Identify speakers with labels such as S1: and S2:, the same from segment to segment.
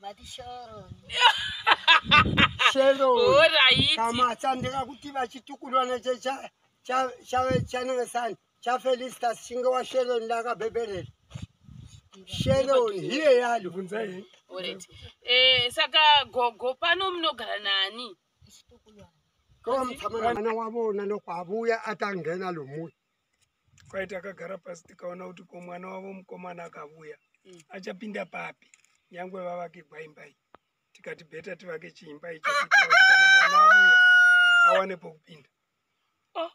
S1: vati sheroni
S2: sheroni Alright. kama chandika
S3: kuti vachitukulwa neche cha- cha- chave chanenge sani chafelistas chinge washeroni ndakabhebherera sheroni hiye yalo bvunzai Alright. Eh,
S2: saka gogo pano munogara nani?
S3: ko mutsamana mwana wavona nokwavuya atangena lomuya kwai
S4: takagara pasi tikaona kuti ko mwana wavo mukomana akavuya mm. achapinda papi nyangwe vavake gwaimbai tikati beta tivake chiimba icho mwana avuya awane pokupinda oh,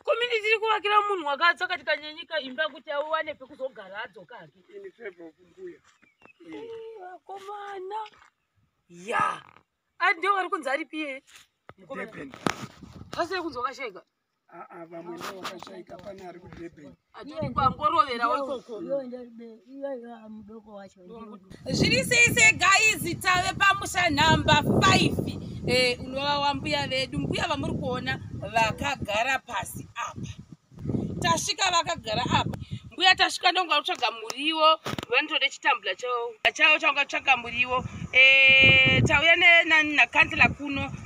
S2: komini tiri kuvakira munhu wakadza kati kanyanyika imba kuti awane pekuzogara adzoka hake ini feva
S4: kumbuya akomana
S2: ya andio ari kunzi aripiye mukomana
S4: zvasiri
S2: kunzi wakashega vamwe ndivo
S4: vakashaika pane ari kudurban atorikwangoroverawo
S2: ikoko
S1: mudoko wacho zviri sei
S2: se gaizi tave pamusha nhamba 5 eh, unova wambuya vedu mbuya vamuri kuona vakagara pasi apa tasvika vakagara apa mbuya tasvika ndonga kutsvaga muriwo vanotode chitambula chavo chavo changa kutsvaga muriwo eh, tauya nenani nakandila kuno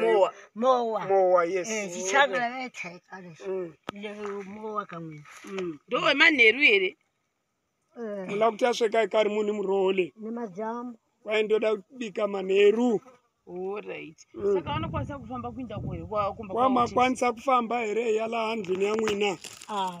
S4: mowa mowa
S1: mowa yes eh, chichanga vetaikale mm. mowa kamwe mm. ndo wemanheru
S2: here eh.
S4: muna kuti asvika ikari munhu muroole nemajamu
S1: kwaye ndoda
S4: kubika manheru
S2: kwamakwanisa mm. kufamba
S4: here yala handlini yamwina ah,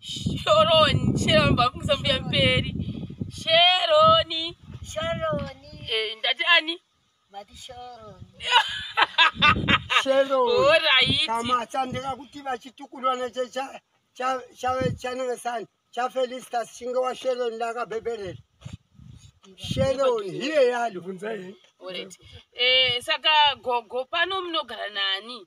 S2: shoroni sheroni vafungisa mbuya mberi sheroni sheroni eh, ndati ani vati
S1: sheroni sheroni
S2: oraiti kama chandika
S3: kuti vachitukulwa neche cha cha cha chanenge sani cha felistas chinge wa sheroni ndakabhebherera sheroni hiye yalo vunzai oraiti
S2: eh saka gogo pano munogara nani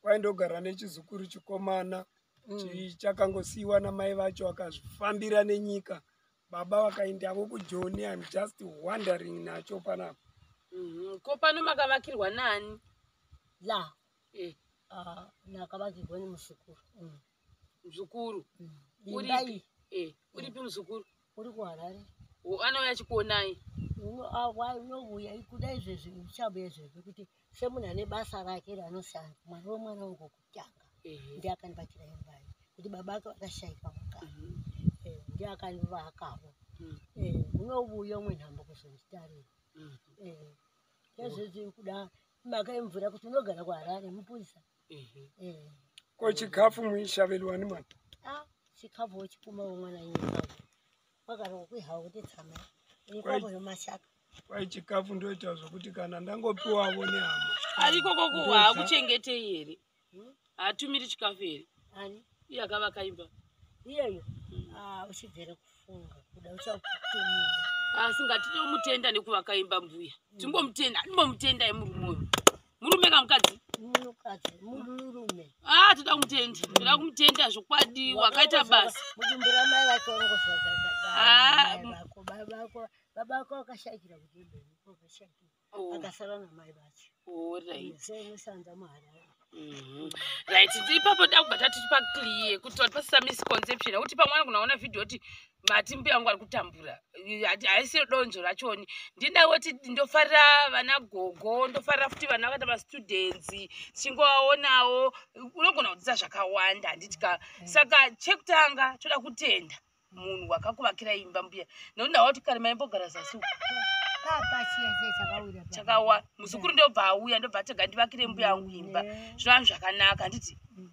S1: kwaindogara
S4: nechizukuru chikomana mm. chakangosiyiwa namai vacho akazvifambira nenyika baba vakaindavo kujoni im just wondering nacho panapa mhm. ko
S2: pano makavakirwa nani la
S1: eh. ah, nakavakirwa nemuzukuru mm.
S2: mzukuru uripi
S1: eh, uripi
S2: mzukuru uri kuharare
S1: anouya
S2: achikuonai unouya
S1: kuda izvezvi uchabuya izvezvi kuti semunhu ane basa rake raanoshanda mwari wemwana wangu kutanga ndiye akandibatira imbai kuti baba ake vakashaika mukana mhm. eh, ndiye akandivakavo mhm. eh, unouya umwe nhambo kuzonditarira mhm. eh, ezvezvi kuda maka yemvura kuti unogara kuharare mupurisa
S4: ko chikafu muishavelwa ni mwana ah, chikafu
S1: wochipuma womwana nyika wakarwa kwihawa kuti tsama ikwavo yomashaka kwai chikafu
S4: ndoita zvokuti kana ndangopiwavo nehama ariko kokuwa
S2: hakuchengetei here hmm? hatumiri chikafu here ani iye akava
S1: kaimba
S2: iyeyo
S1: hmm. ah, uchibvere kufunga kuda uchakutumira asi ah, ngatide
S2: kumutenda nekuvakaimba mbuya hmm. timbomutenda andimbomutenda emurume uyu murume kana mukadzi munhukadzi
S1: murume ah toda kumutenda
S2: toda kumutenda zvokwadi wakaita basa mudumbu ramai vake
S1: wangozvavako babako babako wakashakira kudumbu wakashakira oh. akasara namai vacho orit
S2: semusanza
S1: muharare Mhm.
S2: right ipapo takubva tatipa clear kuti wati pasisa misconception akuti pamwana kunaona vhidhiyo kuti mati mbuya wangu ari kutambura haisi donzvo rachoni ndinangoti ndofarira vana gogo ndofarira futi vana vakaita mastudents tichingovaonawo unogona kudzidza zvakawanda handiti ka mm. saka chekutanga toda kutenda munhu wakakuvakira imba mbuya nokuti ndawa kuti kare maimbogara zasi chakawa muzukuru ndobva auya ndobva tega ndivakire mbuya yangu imba mm. zvinovanhu zvakanaka handiti mm.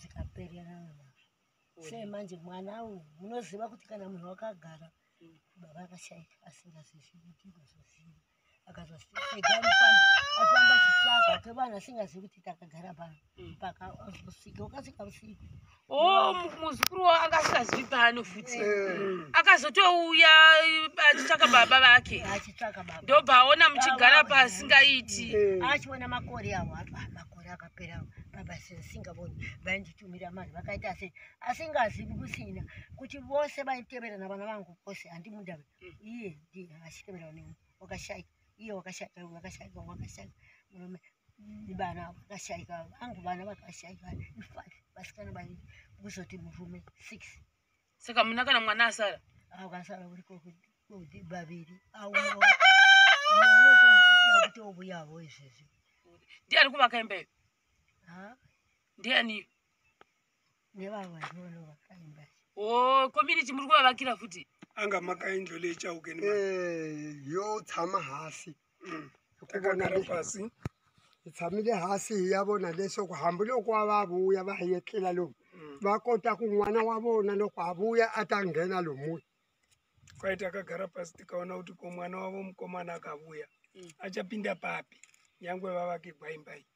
S1: zvikaperera sei manje mwana awo munoziva kuti kana munhu wakagara baba akashaika asingazivi kuti unozoziva akazofamba chitsvaga kevana asingazivi kuti takagara pano mpaka ozosvika ukasvika usiku o oh, muzukuru
S2: wavo anga asingazivi pano futi eh. akazotouya achitsvaka baba vake achitsvaka baba ndobva aona muchigara paasingaiti eh. achiona makore
S1: awo makore akapera baba sisingaboni vainditumira mari vakaita se asingazivi kusina kuti vose vaitevera navana vangu vose handimudave mm. iye ndi achitevera ne wakashaika iye wakashaika wakashaika wakashaika murume vana vakashaika vangu vana vakashaika ifat vasikana vaii kuzoti murume six saka muna
S2: kana mwana asara akasara uri
S1: kuti baviri aunotouyavo izvezvi ndiani kuvaka
S2: imba iyo ndiani
S1: nevavainovakaimba o oh, community
S2: muri kuvavakira futi anga
S4: makaindolechaukeni eh,
S3: yotsama hasi hey, mm. takagara
S4: pasi tshamile
S3: hasi hi ya vona leswaku hambiloko a va vuya va yetlela lomu mm. va kota ku n'wana wa vona loko a vuya a ta nghena lomuya kwai
S4: takagara pasi tikaona kuti ko mwana wavo mukomana akavuya mm. achapinda papi nyangwe vavake gwaimbai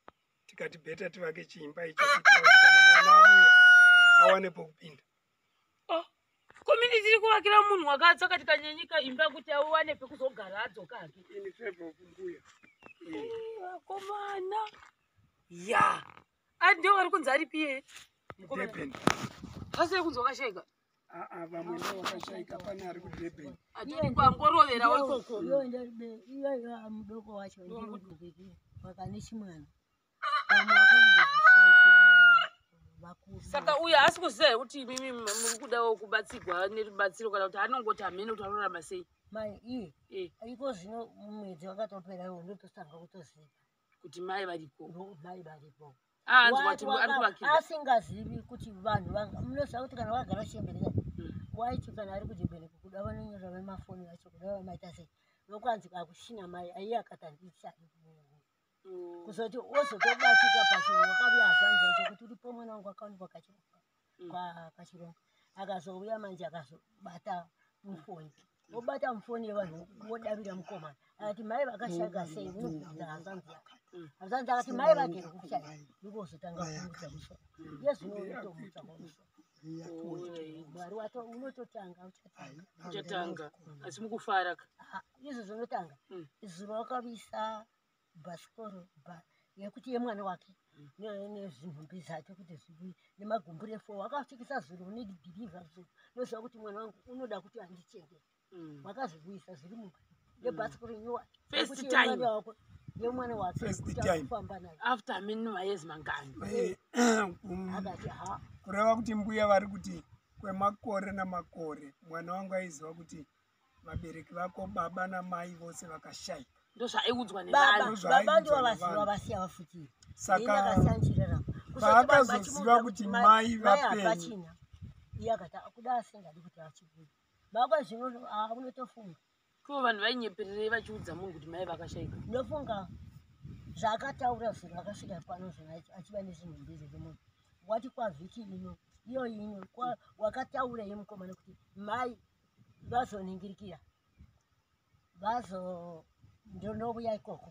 S4: tikati beta tivake chiimba icho kana mwana avuya awane pokupinda oh, komini
S2: tiri kuvakira munhu wakatsa kati kanyenyika imba kuti auwane pekuzogara adzoka hake
S4: vakomana
S2: ya ati ndiwo vari kunzi ari piye
S4: mukomaasire
S2: kunzi wakashaika ah, ah, vamwe ndo
S4: vakashaika pane ari kudurban atiri kwangorovera
S2: waikoko iyo
S1: ndaribe iyo iyo mudoko wacho ndimudukiki wakane chimwana
S2: saka uyo haasi kuziva here kuti imimi muri kudawo kubatsirwa nerubatsiro kana kuti anongoti hamene kuti anorarama sei mai iye
S1: eh. iko zvino mwedzi wakatopera iwo ndototanga kutoziva kuti mai
S2: variko mai variko
S1: asingazivi kuti vanhu munoziva kuti kana wakagara chembereka hmm. waiti kana ari kuchembereka kuda vanonyora vemafoni vacho kuda vamaita sei nokwanzi kakushina mai aiye akatandisa mm. kuzoti ozotobatika pachinhu wakabuya hazvanzi yacho kuti uripo mwana wangu akaonekwa kachiropa mm. kwachironga akazouya manje akazobata mufoni obata mufoni yevanhu wodavira mukomana akati mai vakashaka sei unokuudza hazvanzi yaka hazvanzi akati mai vake rikushaya ndikuzotanga kumuudza musoro yezvino utomudza kwamusoro mwari wato unototanga uchatanga
S2: asi mukufara ka ah, izvo
S1: zvinotanga hmm. zuva wakavisa bhasikoro yekuti yemwana wake hmm. nezinhumbi zake kuti zvibuye nemagumbure fo wakapfekesa zuro unedhirivha zuro noziva kuti mwana wangu unoda kuti andichengete mm. wakazvibuyisa zviri mumba yebhasi kurinyiwa first time
S2: wako yemwana
S1: wakeufamba
S2: naye
S1: after minima
S2: years
S1: mangani eh,
S2: um, akati ha
S4: kureva kuti mbuya vari kuti kwemakore namakore mwana wangu aiziva kuti vabereki vako baba namai vose vakashaika ndozvaiudzwa
S2: nebaba ndivo
S1: vaziva vasiya vafutiri saka
S4: paakazoziva kuti mai vapenyu iye akati
S1: akuda asingadi kuti achibuda Baba zvinono akunotofunga. Ko vanhu
S2: vainyepererei vachiudza munhu kuti mai vakashaika? Ndofunga
S1: zvaakataura zvinhu akasvika pano zvinhu achiva nezvinhu mbiri zvemunhu. Wati kwavhiki ino iyo ino wakataura ye mukomana kuti mai vazoningirikira vazo ndonovuya ikoko.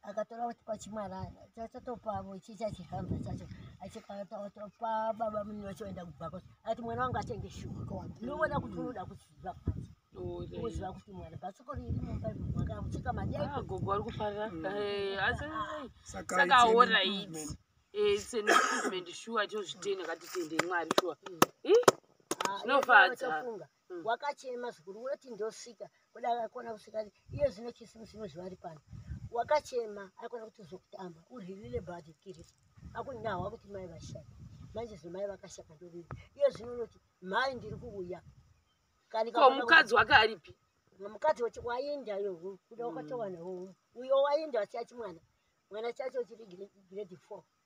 S1: akatora kwachimwarana chachatopavo ichi chachihamba chacho achikatopa baba muni wacho aenda kubhako ati mwana wangu atenge shuwa ndovona kuti unoda kuziva kwanzi uziva kuti mwana bhatsoko riri mumba mwana akucheka madiagogo ari kufarira
S2: asisaka aora iti senimprovement shuwa chozvitene katitende mwari shuwa zvinofadza mm. wakachema
S1: zvikuru woti ndosvika kuda akona kusvika iye zvino chisimusi nozvivari pano wakachema akona kuti zvokutamba urilile badi kiri akunahwa kuti mai vashaka manje zvino mai vakashaka ndovii iye zvino unoti mhai ndiri kuuya kaniko
S2: mukadzi wake aripi mukadzi wati
S1: waenda yo kuda wakatowana mm. uyo waenda wachati mwana mwana chacho chiri grade four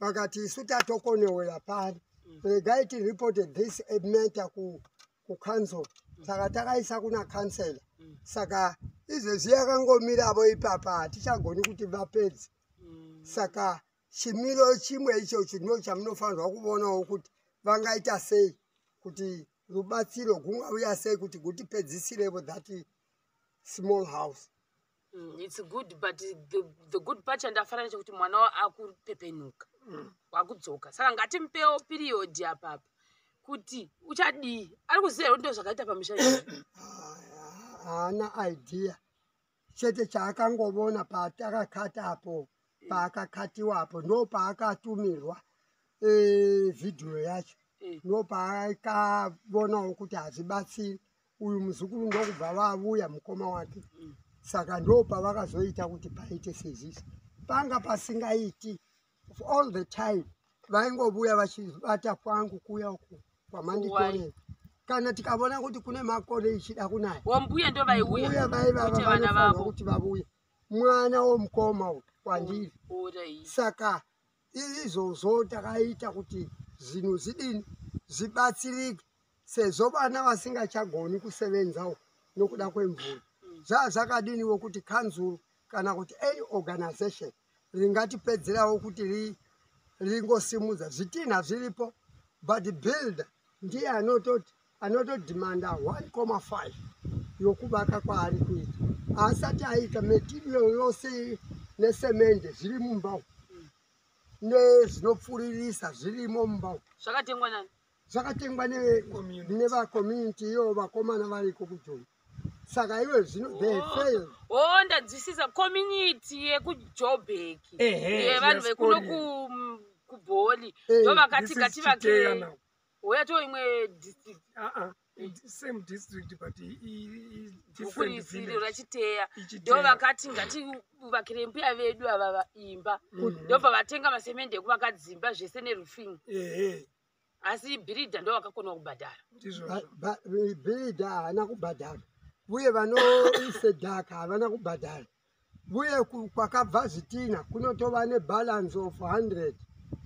S3: vakati isu tatokoneoya pari mm. regai tireporte this matter kucouncil mm. saka takaisa kuna councilor mm. saka izvezvi yakangomiravo ipapa hatichagoni kuti vapedzi saka chimiro chimwe icho chino chamunofanirwa kuvonawo kuti vangaita sei kuti rubatsiro gungauya sei kuti gutipedzisirevo that small house Mm, it's
S2: good but the, the good part chandafana nechekuti mwana akupepenuka mm. wakudzoka saka ngatimupewo period apapa kuti uchadii ari kuziva ndo zvakaita pamisha haana
S3: idea chete chaakangovona paatakakata apo eh. paakakatiwa apo ndo paakatumirwa e, vhidhiyo yacho eh. ndo paakavonawo kuti hazvibatsiri uyu muzukuru ndokubva vavuya mukoma wake saka ndo pavakazoita kuti paite sezvisi panga pasingaiti all the time vaingovuya vachibata kwangu kuya uku kwamanditorera kana tikavona kuti kune makore ichida kunaya wambuya ndo vaiuya
S2: vaivavavana vavo
S3: kuti vavuye mwana womukoma uyu kwandiri saka izvozvo takaita kuti zvinhu zidini zvibatsirike sezvo vana vasingachagoni kusevenzawo nokuda kwemvura zvaa zvakadiniwo kuti kanzuru kana kuti any organization ringatipedzerawo kuti ri ringosimudza zvitinha zviripo but builder ndiye anototi anotodhimanda 1.5 yokuvaka kwaari kuita haasati aita metirio yose nesemende zviri mumba umu nezvinopfuririsa zvirimo mumba umu
S2: zvakatengwa nani
S3: zvakatengwa nevacommunity iyo vakomana variko kujoni saka iwe zvino oh ndadzwisisa
S2: community yekujobek yevanhu vekuno kubholi ndovakati ngativake Huya to imwe district. Ah ah. Same
S4: district but different
S2: village. Rachiteya. Do vakati ngati vakire mbuya vedu ava vaimba. Mm-hmm. Ndobva vatenga masemende ekuvakadzimba zvese neroofing. Ehe. Asi bhiridha ndo vakakona kubhadhara.
S3: Bhiridha haana kubhadhara. Uye vanoise dhaka havana kubhadhara. Uye kwakabva zvitina kunotova nebalance of 100.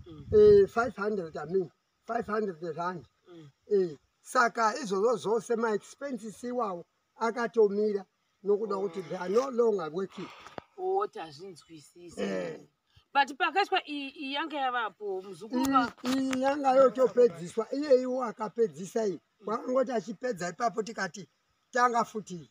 S3: Mm. Eh, 500 I mean. 500 rand mm. eh, saka izvozvo zvose maexpenses iwawo akatomira nokuda mm. kuti they are no longer working oh, tazvinzwisisa
S2: eh. but pakaiswa iyi yanga yavapo muzukuru iyi yanga
S3: yotopedziswa iyeiwo akapedzisa iyi kwakangoti achipedza ipapo tikati tanga futi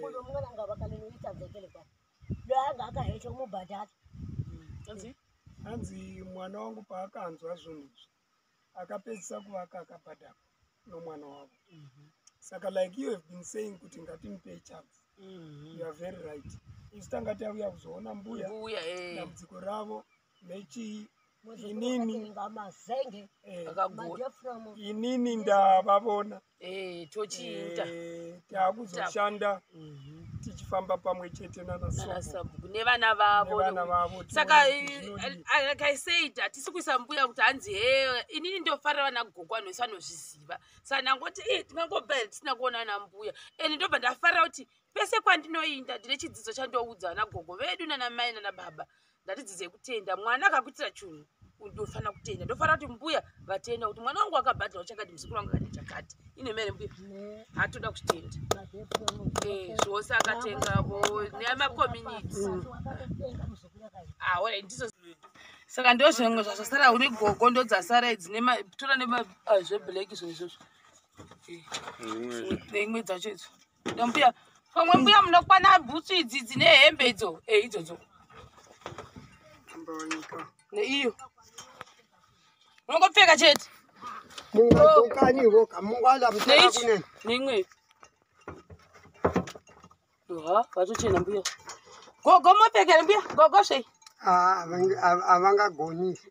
S1: kuno mwana anga vakaninoita dzekele kwa doanga akahecha mubhadhara hanzi
S4: hanzi mwana wangu paakanzwa zvinhu izvi akapedzisa kuvaka akabhadhara nomwana wavo mhm. saka like you have been saying kuti ngatimupe chance mhm. you are very right isu tanga tauya kuzoona mbuya eh. dambudziko ravo nechi inini ngamazenge eh, akagura inini ndavavona eh tochiita
S2: eh, takuzoshanda
S4: mhm. tichifamba pamwe chete nanasabhuku
S2: nevana vavo saka eh, like i said hatisi kuisa mbuya kuti hanzi he inini ndofarira vana gogo vanhu vese vanozviziva saka ndangoti e tingangobva here tisina kuona ana mbuya and ndobva ndafarira kuti pese kwandinoinda ndine chidzidzo chandoudza vana gogo vedu nana mai nana baba mm. ndatidzidzei kutenda mwana akakuitira chunhu ndofanira kutenda ndofanira kuti mbuya vatenda kuti mwana wangu akabhadhara uchakati muzukuru wangu akaita chakati ine mere mbuya hatoda kutenda eh, zvose akatenga nemakomuniti aora ah, ndizo saka ndo zvimwe zvazvasara une gogo ndo dzasara idzi tora nezveblack ah, zvinhu izvozvo eh, imwe dzacho idzo ndombuya pamwe mbuya munokwana bhutsu idzi dzine hembe idzo e idzodzo neiyo unongopfeka chete
S3: neimwe
S2: ha vatochena mbuya gogo mopfekere mbuya gogo sei havangagoni
S3: ah,